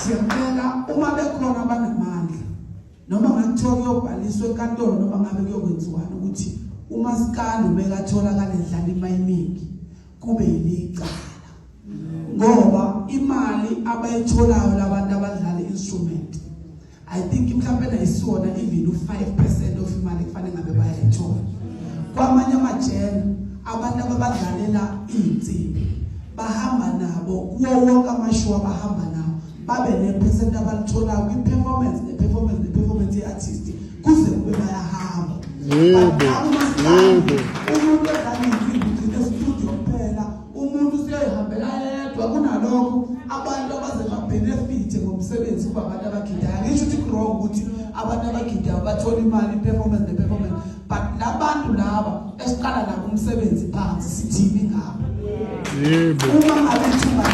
Siyacela uma bekhona abanamandla noma ngathiwa kuyobhaliswa enkantolo noma ngabe kuyokwenziwani ukuthi umasikandi ubekatholakala edlala imali eningi kube yilicala ngoba imali abayitholayo labantu abadlala instrument I think mhlawumbe nayisiwona even u5% of imali kufanele ngabe bayayithola kwamanye amajele abantu ababadlalela izinsimbi bahamba nabo kuwo wonke amashow abahamba nawo babe nepercent abalithola kwi-performance ne-performance ne-performance ye-artist kuze kube bayahamba yebo yebo umuntu edlala izinsimbi ugcine studio kuphela umuntu useyihambela yedwa kunalokho abantu abaze babenefithe ngomsebenzi kuba abantu abagidayo ngisho ukuthi kurong ukuthi abantu abagidayo bathola imali performance the performance but labantu laba esiqala nabo umsebenzi phansi sithini ngabo yebo uma ngabe ithuba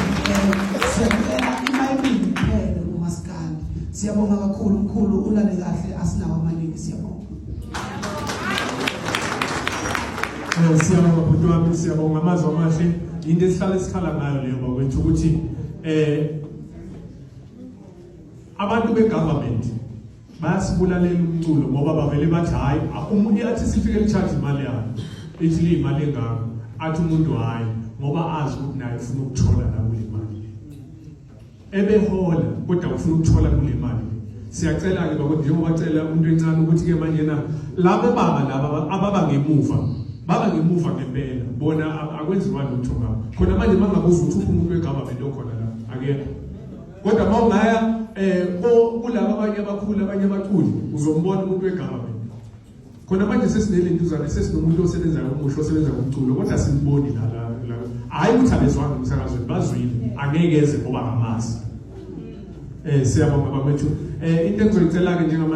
siyabona imayibili phele kumaskandi siyabonga kakhulu mkhulu ulale kahle asinawo amaningi siyabonga Eh, siyabonga bhuti wami siyabonga amazwi amahle yinto esihlale sikhala ngayo leyo bakwethu ukuthi eh abantu begovernment bayasibulalela umculo ngoba bavele bathi hayi umuntu athi sifike licharge imali yayo ithi liyimali engako athi umuntu hayi ngoba azi ukuthi naye ufuna ukuthola la kule mali ebehola kodwa ufuna ukuthola kule mali siyacela-ke bakuthi njengoba cela umuntu encane ukuthi-ke manje na laba baba laba ababa ngemuva baba ngemuva ngempela bona akwenziwa lutho ngabo khona manje mangabuza ukuthi uphi umuntu wegovernment okhona la akekho kodwa uma ungaya um kulaba abanye abakhulu abanye abaculi uzombona umuntu wegovernment khona manje sesinelentuzane sesinomuntu osebenza ngomusho osebenza ngomculo kodwa simboni la la la hayi ukuthi abezwanga umsakazweni bazwile angeke eze ngoba ngamazi eh siyabonga bafethu eh into engizoyicela ke njengamanje